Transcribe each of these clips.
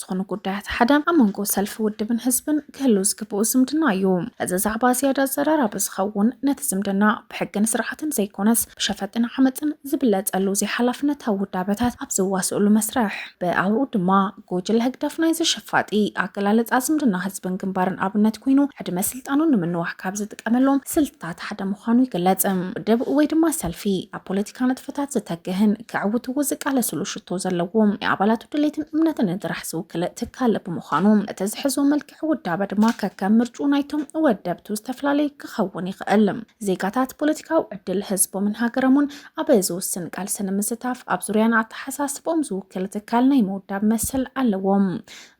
ዝኾኑ ጉዳያት ሓደ ኣብ መንጎ ሰልፊ ውድብን ህዝብን ክህሉ ዝግብኡ ዝምድና እዩ። እዚ ዛዕባ ዝያዳ ኣዘራራቢ ዝኸውን ነቲ ዝምድና ብሕግን ስርዓትን ዘይኮነስ ብሸፈጥን ዓመጽን ዝብለጸሉ ዘይሓላፍነታዊ ውዳበታት ኣብ ዝዋስእሉ መስርሕ ብኣውርኡ ድማ ጉጅለ ህግደፍ ናይዚ ሸፋጢ ኣገላልጻ ዝምድና ህዝብን ግንባርን ኣብነት ኮይኑ ዕድመ ስልጣኑ ንምንዋሕ ካብ ዝጥቀመሎም ስልትታት ሓደ ምዃኑ ይግለጽ። ውድብ ወይ ድማ ሰልፊ ኣብ ፖለቲካ ንጥፈታት ዝተግህን ከዕውትዎ ዝቃለስሉ ሽቶ ዘለዎ ናይ ኣባላቱ ድሌትን እምነትን ጥራሕ ዝውክል ትካል ብምዃኑ እቲ ዝሕዞ መልክዕ ውዳበ ድማ ከከም ምርጩ ናይቶም ወደብቱ ዝተፈላለየ ክኸውን ይኽእል። ዜጋታት ፖለቲካዊ ዕድል ህዝቦምን ሃገሮምን ኣብ ዝውስን ቃልሲ ንምስታፍ ኣብ ዙርያ ንኣተሓሳስብኦም ዝውክል ትካል ናይ ምውዳብ መሰል ኣለዎም።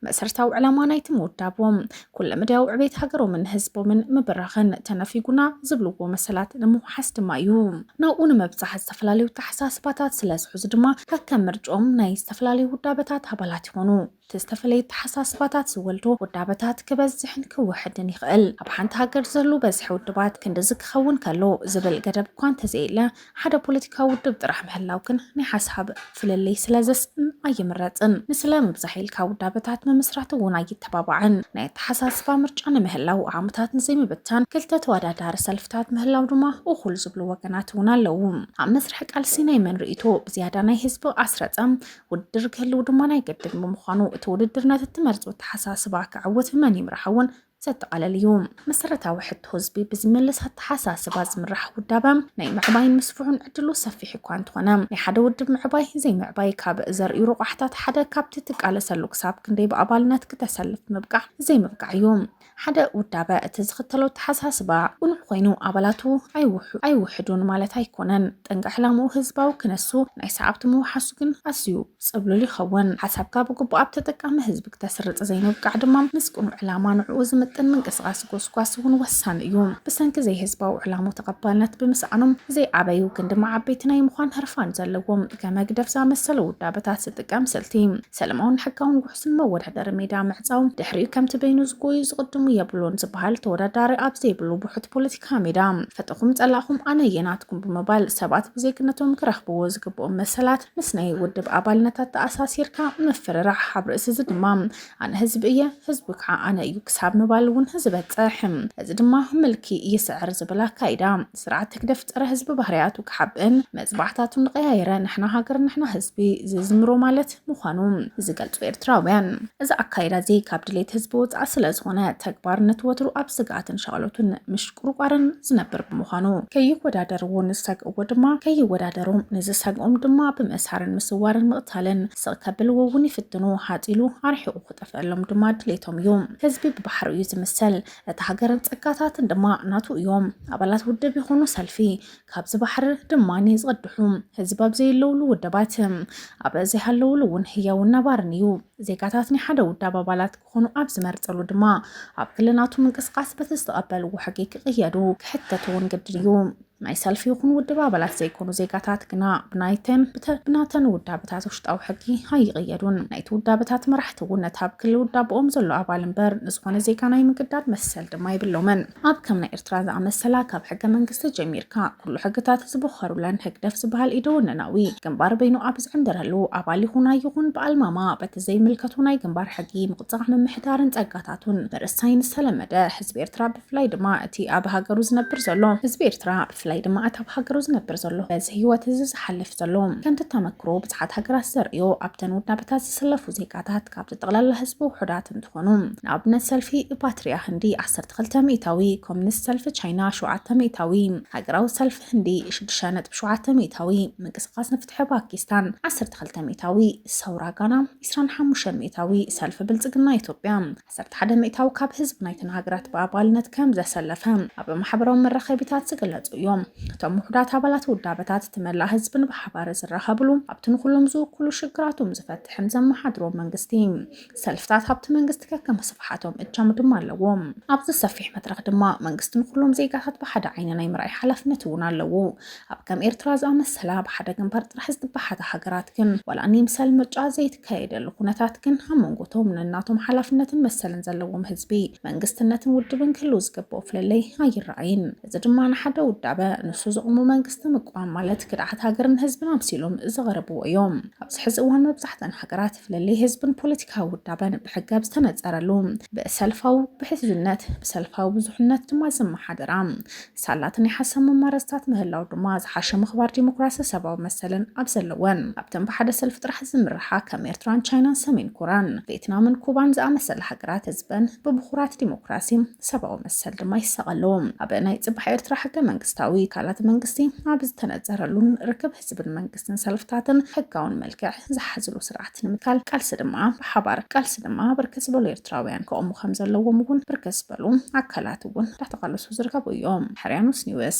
መሰርታዊ ዕላማ ናይቲ ምውዳቦም ኩለመዳያዊ ዕቤት ሃገሮምን ህዝቦምን ምብራኽን ተነፊጉና ዝብልዎ መሰላት ንምውሓስ ድማ እዩ። ናብኡ ንምብጻሕ ዝተፈላለዩ ኣተሓሳስባታት ስለ ዝሕዙ ድማ ከከም ምርጭኦም ናይ ዝተፈላለዩ ውዳበታት ኣባላት ይኾኑ። እቲ ዝተፈለየ ኣተሓሳስባታት ዝወልዶ ውዳበታት ክበዝሕን ክውሕድን ይኽእል። ኣብ ሓንቲ ሃገር ዝህሉ በዝሒ ውድባት ክንድዚ ክኸውን ከሎ ዝብል ገደብ እኳ እንተዘየለ፣ ሓደ ፖለቲካዊ ውድብ ጥራሕ ምህላው ግን ናይ ሓሳብ ፍልልይ ስለ ዘስእን ኣይምረጽን። ንስለ ምብዛሕ ኢልካ ውዳበታት ምምስራት እውን ኣይተባባዕን። ናይ ኣተሓሳስባ ምርጫ ንምህላው፣ ዓቕምታት ንዘይምብታን፣ ክልተ ተወዳዳሪ ሰልፍታት ምህላው ድማ እኹል ዝብሉ ወገናት እውን ኣለዉ። ኣብ መስርሕ ቃልሲ ናይ መን ርእይቶ ብዝያዳ ናይ ህዝቢ ኣስረጸ? ውድድር ክህልው ድማ ናይ ግድን ብምዃኑ፣ እቲ ውድድር ነቲ እትመርጾ ኣተሓሳስባ ከዐውት ብመን ይምራሕ እውን ዘጠቓለል እዩ። መሰረታዊ ሕቶ ህዝቢ ብዝምልስ ኣተሓሳስባ ዝምራሕ ውዳበ ናይ ምዕባይን ምስፍሑን ዕድሉ ሰፊሕ እኳ እንተኾነ ናይ ሓደ ውድብ ምዕባይ ዘይምዕባይ ካብ ዘርእዩ ረቋሕታት ሓደ ካብቲ ትቃለሰሉ ክሳብ ክንደይ ብኣባልነት ክተሰልፍ ምብቃዕ ዘይምብቃዕ እዩ። ሓደ ውዳበ እቲ ዝኽተሎ ኣተሓሳስባ ቅኑዕ ኮይኑ ኣባላቱ ኣይውሕዱን ማለት ኣይኮነን። ጠንቂ ዕላምኡ ህዝባዊ ክነሱ ናይ ሰዓብቱ ምውሓሱ ግን ኣዝዩ ጽብሉል ይኸውን። ሓሳብካ ብግቡእ ኣብ ተጠቃሚ ህዝቢ ክተስርጽ ዘይምብቃዕ ድማ ምስ ቅኑዕ ዕላማ ንዕኡ ዝምጥን ምንቅስቓስ ጎስጓስ እውን ወሳኒ እዩ። ብሰንኪ ዘይህዝባዊ ዕላሙ ተቐባልነት ብምስኣኖም ዘይዓበዩ ግን ድማ ዓበይቲ ናይ ምዃን ህርፋን ዘለዎም ከም ህግደፍ ዝኣመሰሉ ውዳበታት ዝጥቀም ስልቲ ሰለማውን ሕጋውን ውሕሱን መወዳደሪ ሜዳ ምዕጻው ድሕሪኡ ከምቲ በይኑ ዝጎዩ ዝቕድሙ የብሉን ዝበሃል ተወዳዳሪ ኣብ ዘይብሉ ብሑት ፖለቲካ ካሜዳ ፈተኹም ጸላኹም ኣነ የናትኩም ብምባል ሰባት ብዜግነቶም ክረኽብዎ ዝግብኦም መሰላት ምስ ናይ ውድብ ኣባልነታት ተኣሳሲርካ ምፍርራሕ ኣብ ርእሲ እዚ ድማ ኣነ ህዝቢ እየ ህዝቢ ከዓ ኣነ እዩ ክሳብ ምባል እውን ዝበፅሕ እዚ ድማ ምልኪ ይስዕር ዝብል ኣካይዳ ስርዓት ተግደፍ ፀረ ህዝቢ ባህርያቱ ክሓብእን መፅባዕታቱ ንቀያየረ ንሕና ሃገር ንሕና ህዝቢ ዝዝምሮ ማለት ምዃኑ ዝገልጹ ኤርትራውያን፣ እዚ ኣካይዳ'ዚ ካብ ድሌት ህዝቢ ወጻኢ ስለዝኾነ፣ ተግባርነት ወትሩ ኣብ ስግኣትን ሻቕሎትን ምሽቁርቋርን ዝነብር ብምዃኑ፣ ከይወዳደርዎ ንዝሰግእዎ ድማ ከይወዳደሮም፣ ንዝሰግኦም ድማ ብምእሳርን ምስዋርን ምቕታልን፣ ስቕ ከብልዎ'ውን ይፍትኑ፣ ሃጽ ኢሉ ኣርሒቑ ክጠፍእሎም ድማ ድሌቶም እዩ። ህዝቢ ብባሕሩ እዩ ዝምሰል፣ እታ ሃገርን ጸጋታትን ድማ ናቱ እዮም። ኣባላት ውድብ ይኹኑ ሰልፊ፣ ካብዚ ባሕሪ ድማ ዝቐድሑ ህዝቢ ኣብ ዘየለውሉ ውደባት ኣብ ዘይሃለውሉ እውን ህያውን ነባርን እዩ። ዜጋታት ናይ ሓደ ውዳብ ኣባላት ክኾኑ ኣብ ዝመርጸሉ ድማ ኣብ ክልናቱ ምንቅስቓስ በቲ ዝተቐበልዎ ሕጊ ክቕየዱ ክሕተቱ እውን ግድን እዩ። ናይ ሰልፊ ይኹን ውድብ ኣባላት ዘይኮኑ ዜጋታት ግና ብናይተን ብናተን ውዳበታት ውሽጣዊ ሕጊ ኣይቕየዱን። ናይቲ ውዳበታት መራሕቲ እውን ነቲ ኣብ ክሊ ውዳበኦም ዘሎ ኣባል እምበር ንዝኾነ ዜጋ ናይ ምግዳድ መሰል ድማ የብሎምን። ኣብ ከም ናይ ኤርትራ ዝኣመሰላ ካብ ሕገ መንግስቲ ጀሚርካ ኩሉ ሕግታት ዝበኸሩለን ህግደፍ ዝበሃል ኢደ ወነናዊ ግንባር በይኑ ኣብ ዝዕንድረሉ ኣባል ይኹን ኣይኹን ብኣልማማ በቲ ዘይምልከቱ ናይ ግንባር ሕጊ ምቕጻዕ ምምሕዳርን ጸጋታቱን ምርሳይን ዝተለመደ ህዝቢ ኤርትራ ብፍላይ ድማ እቲ ኣብ ሃገሩ ዝነብር ዘሎ ህዝቢ ኤርትራ ብፍላይ ድማ እቲ ኣብ ሃገሩ ዝነብር ዘሎ በዚ ህይወት እዚ ዝሓልፍ ዘሎ ከምቲ ተመክሮ ብዙሓት ሃገራት ዘርእዮ ኣብተን ውዳበታት ዝስለፉ ዜጋታት ካብቲ ጠቕላላ ህዝቢ ውሑዳት እንትኾኑ፣ ንኣብነት ሰልፊ ፓትሪያ ህንዲ ዓሰርተ ክልተ ሚእታዊ፣ ኮሚኒስት ሰልፊ ቻይና ሸውዓተ ሚእታዊ፣ ሃገራዊ ሰልፊ ህንዲ ሽዱሽተ ነጥቢ ሸውዓተ ሚእታዊ፣ ምንቅስቓስ ንፍትሒ ፓኪስታን ዓሰርተ ክልተ ሚእታዊ፣ ሰውራ ጋና ዕስራን ሓሙሽተን ሚእታዊ፣ ሰልፊ ብልጽግና ኢትዮጵያ ዓሰርተ ሓደ ሚእታዊ ካብ ህዝቢ ናይተን ሃገራት ብኣባልነት ከም ዘሰለፈ ኣብ ማሕበራዊ መራኸቢታት ዝግለጹ እዮም። እቶም ውሑዳት ኣባላት ውዳበታት እቲ መላእ ህዝብን ብሓባር ዝራኸብሉ ኣብቲ ንኹሎም ዝውክሉ ሽግራቶም ዝፈትሕን ዘመሓድሮ መንግስቲ ሰልፍታት ኣብቲ መንግስቲ ከከም ስፍሓቶም እጃም ድማ ኣለዎም። ኣብዚ ሰፊሕ መድረኽ ድማ መንግስቲ ንኹሎም ዜጋታት ብሓደ ዓይኒ ናይ ምርኣይ ሓላፍነት እውን ኣለዎ። ኣብ ከም ኤርትራ ዝኣመሰላ ብሓደ ግንባር ጥራሕ ዝተባሓታ ሃገራት ግን ዋላ ንይምሰል ምርጫ ዘይት ከየደሉ ኩነታት ግን ኣብ መንጎ እቶም ነናቶም ሓላፍነትን መሰልን ዘለዎም ህዝቢ፣ መንግስትነትን ውድብን ክህልው ዝግብኦ ፍልልይ ኣይረኣይን። እዚ ድማ ንሓደ ውዳበ ንሱ ዘቑሙ መንግስቲ ምቋም ማለት ክድዓት ሃገርን ህዝብን ኣምሲሎም ዘቐርብዎ እዮም። ኣብዚ ሕዚ እዋን መብዛሕተን ሃገራት ፍልልይ ህዝብን ፖለቲካዊ ውዳበን ብሕገ ኣብ ዝተነፀረሉ፣ ብሰልፋዊ ብሕዝብነት፣ ብሰልፋዊ ብዙሕነት ድማ ዝመሓደራ ሳላቲ ናይ ሓሳብ መማረፅታት ምህላው ድማ ዝሓሸ ምኽባር ዲሞክራሲ ሰባዊ መሰልን ኣብ ዘለወን ኣብተን ብሓደ ሰልፊ ጥራሕ ዝምርሓ ከም ኤርትራን ቻይናን ሰሜን ኮራን ቬትናምን ኩባን ዝኣመሰላ ሃገራት ህዝበን ብብኹራት ዲሞክራሲ ሰባዊ መሰል ድማ ይሳቐ ኣሎ። ኣብ ናይ ፅባሕ ኤርትራ ሕገ መንግስታዊ ትካላት መንግስቲ ኣብ ዝተነፀረሉን ርክብ ህዝብን መንግስትን መንግስትን ሰልፍታትን ሕጋውን መልክዕ ዝሓዝሉ ስርዓት ንምትካል ቃልሲ ድማ ብሓባር ቃልሲ ድማ ብርክት ዝበሉ ኤርትራውያን ከቑሙ ከም ዘለዎም እውን ብርክት ዝበሉ ኣካላት እውን እንዳተቓለሱ ዝርከቡ እዮም። ሕርያኖስ ኒውስ።